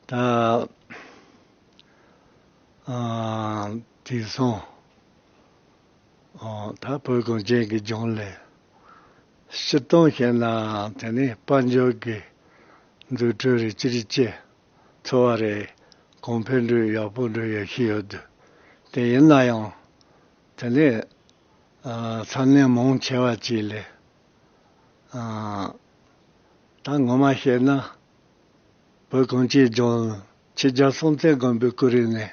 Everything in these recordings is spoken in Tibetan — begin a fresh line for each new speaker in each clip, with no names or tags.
དེང་སང་ད་བོད་གངས་ཅན་གྱི་ལྗོངས་ལས་ཕྱིར་གཏོང་བྱས་ནའང་དེ་ནི་དཔལ་འབྱོར་གྱི་འཛུགས་སྐྲུན་རེད་ཅི་རིགས་ཅེས་འཚོལ་བ་རེ་གོང་འཕེལ་འགྲོས་ཡག་པོ་འགྲོ་ཡག་གི་ཡོད་དུས་དེ་ཡིན་ན་ཡང་དེ་ནི་ཚ་ནན་མང་ཆེ་བ་གཅིག་ལས། ད་ངོ་མ་བཤད་ན། བོད་གངས་སྐྱིད་ལྗོངས་ཕྱི་རྒྱལ་སྲོང་བཙན་སྒམ་པོའི་སྐུ་རིང་ནས་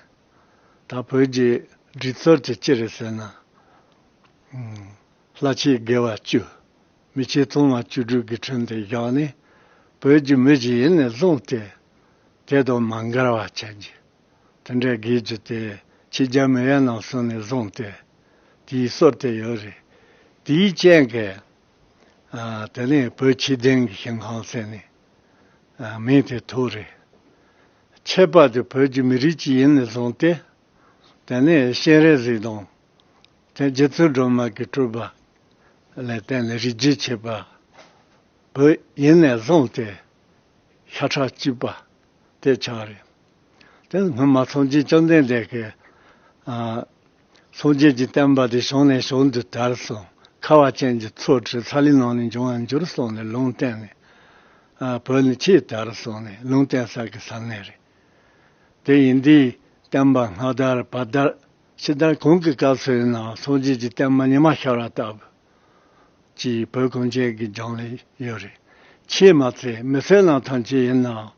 ད་བོད་རྒྱའི་སྒྲིག་གཙོར་གྱི་སྤྱི་རེད་ཟེར་ན། ལྷ་ཆེ་དགེ་བ་བཅུ། མི་ཆེ་བཙུན་མ་བཅུ་དྲུག་གི་དྲུང་དེ་བཞག་ནས་བོད་ཀྱི་མི་ཞིག་ཡིན་ནས་བཟུང་སྟེ། དེ་དང་མ་འགལ་བ་བྱ་རྒྱུ། དེ་འདྲའི་དགེ་བཅུ་དེ་ཕྱི་རྒྱལ་མི་ཡན་ནམ་སོང་ནས་བཟུང་སྟེ་དེའི་སྲོལ་དེ་ཡོད་རེད། དེའི་རྐྱེན་གྱིས། དེ་ནས་བོད་ཕྱི་གདན་གྱི་ཞིང་ཁང་ཟེར་ནས་མིང་དེ་ཐོགས་རེད། ཆད་པ་དེ་བོད་ཀྱི་མི་རིགས་ཀྱི་ཡིན་ནས་བཟུང་སྟེ། དེ་ནས་སྤྱན་རས་གཟིགས་དང། དེ་རྗེ་བཙུན་སྒྲོལ་མ་གྱི་སྤྲུལ་པ་ལས་བརྟེན་ནས་རིགས་རྒྱུད་ཆད་པ་བོད་ཡིན་ནས་བཟུང་སྟེ་ཤ་ཁྲག་གཅིག་པ་དེ་ཆགས་རེད། དེ་སྔོན་མ་ཚངས་སྐྱིད་བཅོམ་ལྡན་འདས་ཀྱི། སངས་རྒྱས་ཀྱི་བསྟན་པ་དེ་ཞོང་ནས་ཞོང་དུ་དར་སོང། ཁ་བ་ཅན་གྱི་ཚོགས་ཁྲི་ཚ་ལའི་ནང་ནས་འབྱུང་བར་འགྱུར་སོང་ནས་ལུང་བསྟན་ནས། བོད་ནི་ཆེས་དར་སོང་ནས་ལུང་བསྟན་ས་གི་ས་གནས་རེད། དེ་ཡིན་དུས་བསྟན་པ་སྔ་དར་བར་དར། ཕྱི་དར་གང་གི་སྐབས་སུ་ཡིན་ནའང་སངས་རྒྱས་ཀྱི་བསྟན་པ་ཉི་མ་ཤར་བ་ལྟ་བུ། ཅེས་བོད་གངས་ཅན་གྱི་རྒྱང་ལས་ཡོད་རེད། ཆེས་མ་ཚད་མི་སེར་ནང་ཐང་ཅན་ཡིན་ནའང་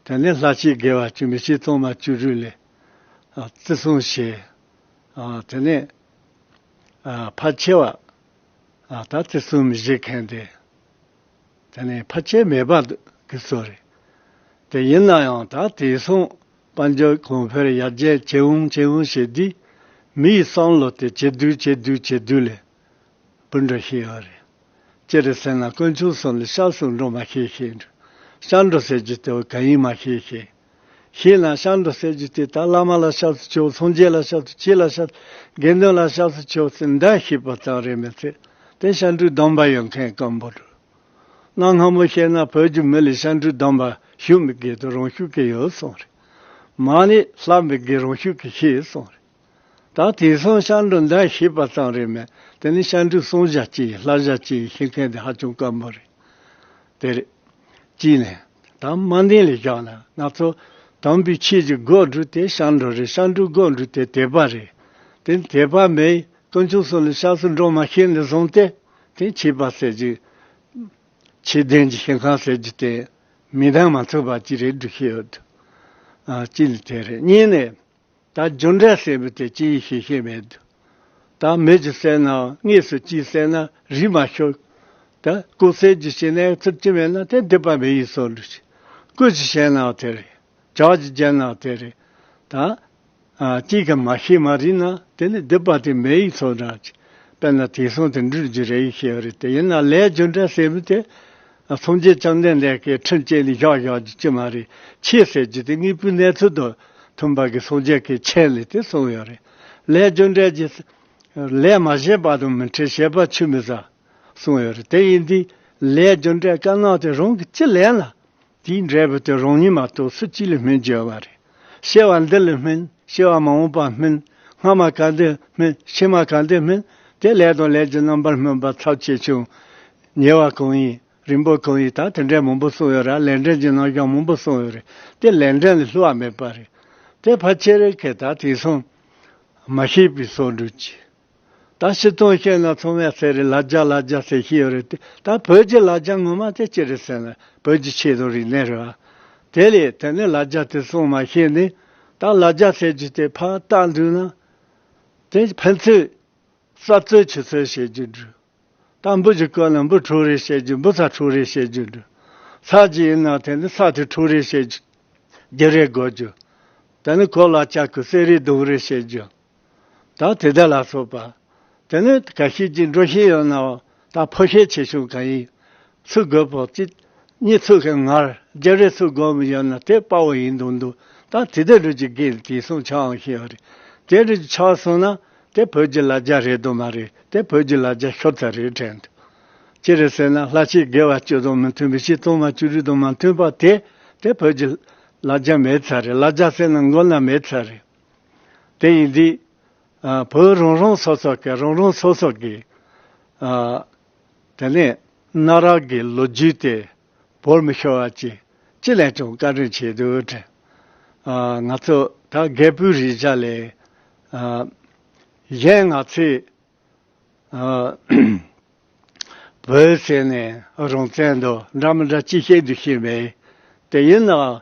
དེ་ནས་ལྷ་སྐྱིད་དགེ་བ་བཅུ་མི་གཅིག་སྟོང་པ་བཅུ་དྲུག་ལས་བརྩི་སྲུང་བྱས། དེ་ནས་ཕལ་ཆེ་བ་ད་བརྩི་སྲུང་མི་བྱེད་མཁན་དེ་དེ་ནི་ཕལ་ཆེར་མེད་པ་གི་ཚོད་རེད། དེ་ཡིན་ན་ཡང་ད་དེ་སྲུང་དཔལ་འབྱོར་གོང་འཕེལ་ཡར་རྒྱས་ཇེ་བང་ཇེ་བང་བྱེད་དུས་མི་ཡི་བསམ་བློ་དེ་ཇེ་དུས་ཇེ་དུས་ཇེ་དུས་ལས་འབུར་འགྲོ་ཤེས་ཡོད་རེད། ཅི་རེད་ཟེར་ན་དཀོན་མཆོག་གསུམ་ལས་ཤར་སུ་འགྲོ་མ་ཤེས་ཤེས། ཤར་འགྲོ་ཟེར་རྒྱུ་དེ་བས་གང་ཡིན་མ་ཤེས་ཤེས། ཞེས་ན་ཤར་འགྲོ་སེར་བྱེས་དེ་དག་བླ་མ་ལ་ཤཱ་ཚུ་ཆེའོ་ཚོང་རྒྱས་ལ་ཤཱ་ཚུ་ཆེ་ལ་ཤཱ་དགེ་འདུན་ལ་ཤཱ་ཚུ་ཆེའོ་ཟེར་འདྲ་ཤེས་པ་ཙམ་རེད་མི་ཚད་དེ་ཤཱ་འཕྲུལ་སྡོམ་པ་ཡོད་མཁན་སྐམ་པོ་འགྲོ། གནའ་སྔ་མོ་བཤད་ན་བོད་ཀྱི་མི་ལས་ཤཱ་འཕྲུལ་སྡོམ་པ་ཞུ་མི་དགོས་དུ་རང་ཤུགས་ཀྱིས་ཡོད་སོང་རེད། མ་ནས་ལྷ་མི་དགེ་རང་ཤུགས་ཀྱིས་ཤེས་སོང་རེད། ད་དེང་སང་ཤར་འགྲོ་འདའ་ཤེས་པ་ཙམ་རེད་མོད་དེ་ནི་ཤར་འགྲོའི་སོང་བཞག་ཅིག་ཡིན་ལྷ་བཞག་ཅིག་ཡིན་ཤེས་མཁན་དེ་ཧ་ཅང་དཀའ་མོ་རེད། དེ་རེད། གཅིག་ནས། དང་དམའ་འདེང་ལས་བཞག་ན་ང་ཚོ། དམ་པའི་ཆོས་ཀྱི་སྒོ་འགྲོ་དེ་ཤར་འགྲོ་རེད་ཤར་འགྲོའི་སྒོ་འགྲོ་དེ་དད་པ་རེད། དེ་ནི་དད་པ་མེད་ཡིན་དཀོན་མཆོག་སོགས་ལ་ཤར་སུ་འགྲོ་མ་ཤེས་ནས་བཟུང་སྟེ། དེང་ཆོས་པ་ཟེར་གྱི། ཆོས་ལྡན་གྱི་ཞིང་ཁང་ཟེར་གྱི་དེ། མིག་མདངས་མ་འཚོས་པ་ཅིག་རེད་འགྲུ་ཤེས་ཡོད་དོ། གཅིག་ནི་དེ་རེད་གཉིས་ནས། ད་འབྱོར་འབྲས་གསལ་བས་དེ་ཅི་ཡིན་ཤེས་ཤེས་མེད། ད་མེད་ཅིག་གསལ་ནའང་དངོས་སུ་ཅིའི་གསལ་ན་རིས་མ་ཤོར། ད་སྐུ་གསལ་གྱི་ཤེས་ནའི་ཚུལ་ཅི་མེད་ན་དེ་འདི་པ་མེ་ཡིས་སོ་འདྲི་ཞིག། སྐུ་ཅི་ཤེས་ནའང་དེ་རེད། བྱ་བ་ཅི་བྱས་ནའང་དེ་རེད། ད་ཅིས་ཀྱང་མ་ཤེས་མ་རིག་ན་དེ་ནི་འདི་པ་དེ་མེ་ཡིས་སོ་འདྲ་ཅིག། དཔེར་ན་དེང་སང་དེ་འདྲུད་རྒྱུ་རེ་ཡོད་ཤེས་པ་རེད་དེ་ཡིན་ན་ལས་འབྱོར་འབྲས་གསལ་བས་དེ། ཚོང་ཆེན་བཅར་འདྲེན་ལས་ཀའི་ཁྲིམས་བཅད་ནི་བཞག་བཞག་གི་ཅི་མ་རེད་ཆེས་ཟེར་རྒྱུ་དེ་དངོས་པོའི་གནས་ཚུལ་དང་མཐུན་པ་གི་ཚོང་ཆེན་གི་ཆེན་ལས་དེ་གསུངས་ཡོད་རེད། ལས་སྦྱོར་འབྲས་ཀྱི། ལས་མ་བྱས་པ་དང་མི་འཕྲད་ཤེས་པ་ཆུད་མི་ཟ། གསུངས་ཡོད་རེད་དེ་ཡིན་དུས། ལས་སྦྱོར་འབྲས་དཀའ་སྣང་དེ་རང་གི་ཅི་ལན་ལ། དེའི་འབྲས་བུ་དེ་རང་ཉིད་མ་གཏོགས་སུ་ཅི་ལས་སྨིན་གྱི་ཡོད་པ་རེད། ཤེས་བ་འདི་ལས་སྨིན་ཤེས་བ་མ་འོངས་པ་སྨིན། སྔ་མ་ག་འདི་སྨིན་ཕྱི་མ་ག་འདི་སྨིན། དེ་ལས་དང་ལས་ཀྱི་རྣམ་པར་སྨིན་པ་ཚབས་ཆེ་ཆུང། ཉེ་བ་གང་ཡིན་རིང་པོ་གང་ཡིན་དང་དེ་འདྲའི་མང་པོ་གསུངས་ཡོད་ར་ལས་འབྲེལ་གྱི་རྣམ་གཞག་མང་པོ་གསུངས་ཡོད་རེད་དེ་ལས་འབྲེལ་ལས་ལྷུ་བ་མེད་པ་རེད་དེ་ཕ་ཆེ་རེ་ཁེ་ད་དེ་སོང་མ་ཤེས་པའི་སོགས་འགྲུས་ཀྱིས། ད་ཕྱི་ཚུལ་བཤད་ན་ཚང་མས་ཟེར་རེད་ལ་རྒྱ་ལ་རྒྱ་ཟེར་གྱི་ཡོད་རེད་དེ་ད་བོད་ཀྱི་ལ་རྒྱ་ངོ་མ་དེ་ཅི་རེད་ཟེར་ན་བོད་ཀྱི་ཆེད་དུ་རིག་གནས་རེད་བ། དེ་ལས་དེ་ནས་ལ་རྒྱ་དེ་གསུངས་མ་ཤེས་ནས་ད་ལ་རྒྱ་ཟེར་རྒྱུ་དེ་ཕ་རྟགས་འདུག་ན། དེ་ཕན་ཚུན་གསབ་རྩོད་བྱེད་ཚུལ་བྱེད་རྒྱུ་འདུག་ད་འབུ་ཅིག་བརྐོས་ན་འབུ་དྲུག་རེ་བཤད་རྒྱུ་འབུ་ཚ་དྲུག་རེ་བཤད་རྒྱུ་འདུག་ཚ་གཅིག་ཡིན་ན་དེ་ནི་ཚ་དེ་དྲུག་རེ་བཤད་རྒྱུ་རེ་དགོས་རྒྱུ། དེ་ནི་གོ་ལ་ལྕགས་ཀྱི་གསེར་རེ་དུང་རེ་བཤད་རྒྱུ། བདག་དེ་དག་ལ་སོགས་པ། དེ་ནི་ག་ཤེད་ཅིག་འགྲོ་ཤེས་ཡོད་ནའོ། བདག་ཕོ་ཤེད་ཆེ་ཆུང་གང་ཡིན། ཚུར་རྒོལ་པོ་གཅིག། གཉིས་ཚུར་གྱི་ངར་རྒྱལ་རེ་ཚུར་རྒོལ་མོ་ཡོད་ན་དེ་དཔའ་བོ་ཡིན་དུ་འདུག་བདག་དེ་དག་རུས་ཀྱི་སྐད་ནི་དེའི་སྲུང་ཆའང་ཤེས་པ་རེད། དེ་རུས་ཀྱི་ཆ་བ་སྲུང་ན་དེ་བོད་ཀྱི་ལ་རྒྱ་རེད་དུ་མ་རེད་དེ་བོད་ཀྱི་ལ་རྒྱ་ཤོར་ཚད་རེད་དྲན་ཐུབ། ཅི་རེད་ཟེར་ན་ལྷ་ཆེ་དགེ་བ་བཅུ་དང་མི་མཐུན་པའི་ཕྱིར་གཏོར་མ་བཅུ་རིགས་དང་མ་མཐུན་པ་དེ་དེ་བོད་ཀྱི་ལ་རྒྱ་མེད་ཚད་རེད་ལ་རྒྱ་ཟེར་ན་མགོ་ན་མེད་ཚད་རེད། དེ་ཡིན་དུས། བོད་རང་རང་སོ་སོ་གིས་རང་རང་སོ་སོ་གི། དེ་ནས་གནའ་རབས་ཀྱི་ལོ་རྒྱུས་དེ་བོར་མི་ཤོར་བ་ཅི་ཅི་ལས་ཀྱང་བཀའ་དྲིན་ཆེ་དུས། ང་ཚོ་ད་རྒད་པོའི་རེས་འཇའ་ལས། གཞན་ང་ཚོས། བོད་ཟེར་ནས་རང་བཙན་འདོད་འདྲ་མི་འདྲ་ཅི་བཤད་དུ་ཤེས་མེད། དེ་ཡིན་ནའང།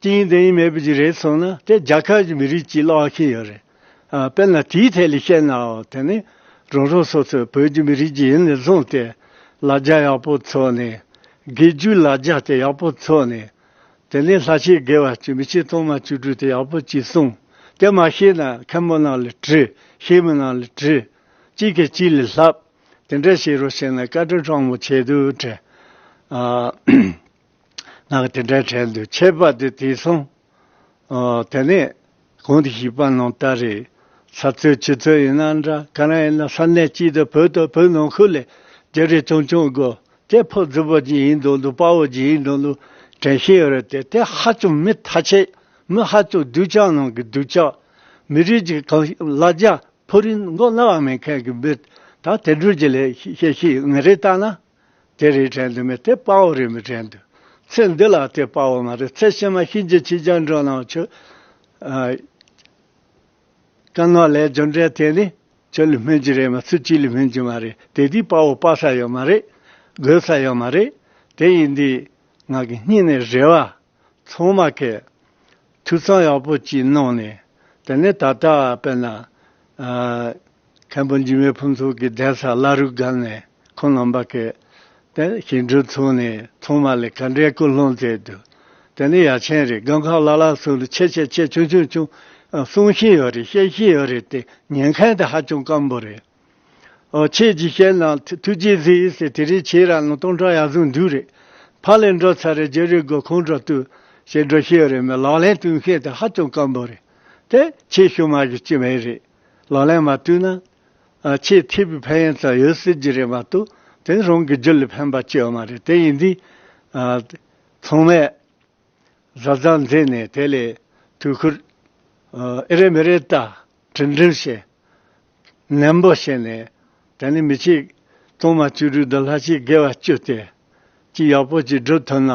ཅི་ཡིན་འདི་ཡིན་མེད་པ་ཞིག་རེད་སོང་ན་དེ་རྒྱ་གར་གྱི་མི་རིགས་ཀྱིས་བློ་ཨ་ཁེལ་ཡོད་རེད། དཔེར་ན་དེའི་ཐད་ལ་བཤད་ན་དེ་ནི་རང་རང་སོ་སོའི་བོད་ཀྱི་མི་རིགས་ཀྱི་ཡིན་ནས་བཟུང་སྟེ་ལ་རྒྱ་ཡག་པོ་འཚོགས་ནས་དགེ་བཅུའི་ལ་རྒྱ་དེ་ཡག་པོ་འཚོགས་ནས་དེ་ནས་ལྷ་ཤེས་དགེ་བ་བཅུ་མི་ཤེས་སྟོང་མ་བཅུ་དྲུག་དེ་ཡག་པོ་གྱིས་གསུངས་དེ་མ་ཤེས་ན་མཁན་པོ་རྣམས་ལ་དྲི་ཤེས་མི་རྣམས་ལ་དྲི། གཅིག་གིས་གཅིག་ལ་ལྷབ་དེ་འདྲ་བྱེད་རོགས་བྱས་ན་བཀའ་དྲིན་གྲངས་མང་ཆེ་དུས་དྲན། ནག་དེ་འདྲའི་གྲལ་དུ་ཆས་པ་དེ་དེས་སོང། དེ་ནས་གང་དུ་ཞིག་པ་ནང་ལྟར་རེད། ས་ཚོད་ཕྱི་ཚོད་ཡིན་ན་འདྲ་ག་རང་ཡིན་ན་ས་གནས་གཅིག་དང་བོད་དང་བོད་ནང་ཁུལ་ལས་རྒྱ་རིགས་ཆུང་ཆུང་དགོ་དེ་ཕོ་རྫི་བོ་གཅིག་ཡིན་འདུག་འདུག་དཔའ་བོ་གཅིག་ཡིན་འདུག་འདུག་དྲན་ཤེས་ཡོད་རེད་དེ་དེ་ཧ་ཅང་མི་མཐའ་ཆེ་མི་ཧ་ཅང་སྡུག་ཅག་ནང་གི་སྡུག་ཅག། མི་རིགས་ཀྱི་གང་བླ་རྒྱ་ཕོ་རིན་མགོ་བླ་བ་མེད་མཁན་གྱི་མི་ད་དེ་འདྲུས་ཀྱི་ལས་བཤད་ཤེས་ཡོད་ངེས་རེད་ལྟ་ན། དེ་རེད་དྲན་དུ་མེད་དེ་དཔའ་བོ་རེད་མི་དྲན་དུ། ཚེ་འདི་ལ་དེ་དཔའ་བོ་མ་རེད་ཚེ་ཕྱི་མ་ཤིན་ཅི་ཆེ་སྦྱང་འགྲོ་གནང་ཆོག། དཀའ་ངལ་ལས་སྦྱོར་འབྲས་དེ་ནི་ཆོས་ལ་སྨན་གྱི་རེད་མ་ཚུལ་གཅིག་ལ་སྨན་གྱི་མ་རེད་དེ་དེའི་དཔའ་བོ་དཔའ་ས་ཡོད་མ་རེད། དགོས་ས་ཡོད་མ་རེད་དེ་ཡིན་དུས་ང་གི་སྙིང་ནས་རེ་བ། ཚང་མ་ཁེ། འཐུས་ཚང་ཡག་པོ་གཅིག་གནང་ནས་དེ་ནས་ད་ལྟ་བལྟས་ན། མཁན་པོ་འཇིགས་མེད་ཕུན་ཚོགས་ཀྱི་གདན་ས་བླ་རུ་བསྒར་ནས་ཁོང་རྣམ་པ་ཁེ། དེ་ནས་ཞིང་འབྲོག་ཚུགས་ནས་ཚང་མ་ལས་ཀ་འབྲས་སྐུ་སློང་མཛད་དུ། དེ་ནས་ཡ་ཆེན་རེད་སྒང་ཁག་ལ་ལ་སུ་ལུ་ཆེ་ཆེ་ཆེ་ཆུང་ཆུང་ཆུང། གསུང་བཞིན་ཡོད་རེད་བཤད་བཞིན་ཡོད་རེད་དེ་ཉན་མཁན་དེ་ཧ་ཅང་སྐམ་པོ་རེད། ཁྱེད་ཀྱིས་བཤད་ན་ཐུགས་རྗེའི་གཟི་ཡིག་ཟེར་དེ་རིགས་ཁྱེད་རང་ལ་སྟོང་ཕྲག་ཡར་ཟུང་འདུག་རེད། ཕ་ལས་འགྲོ་ཚར་རེད་རྗེས་རེ་དགོས་ཁོང་ཁྲོ་བཏུལ། ཞེས་འགྲོ་ཤེས་ཡོད་རེད་མོད་ལག་ལེན་བསྟུན་མཁན་དེ་ཧ་ཅང་དཀོན་པོ་རེད་དེ། ཁྱེད་ཤུག་མ་གི་ཅི་མེད་རེད། ལག་ལེན་མ་བསྟུན་ན། ཁྱེད་ཐེ་བུའི་ཕན་ཡོན་ཙམ་ཡོད་སྲིད་ཀྱི་རེད་མ་གཏོགས་དེ་ནི་རང་གི་རྒྱུ་ལས་ཕན་པ་སྐྱེ་བ་མ་རེད་དེ་ཡིན་དུས། ཚང་མས་གཟབ་གཟབ་མཛད་ནས་དེ་ལས་དུས་འཁོར། ཨེ་རེད་མི་རེད་ལྟ་དྲིལ་དྲིལ་བྱས། ནན་པོ་བྱས་ནས། དེ་ནི་མི་ཕྱེད། གཏོར་མ་བཅུ་དྲུག་བཟླས་ལྷ་ཅིག་དགེ་བ་བཅུ་སྟེ། ཅི་ཡག་པོ་ཅིག་བསྒྲུབས་ཐུབ་ན།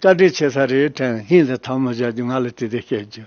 བཀའ་དྲིན་ཆེ་ས་རེད་དྲན་སྙིང་ལ་ཐང་མོ་བཞག་རྒྱུ་ང་ལ་དེ་དེ་བཤད་རྒྱུ།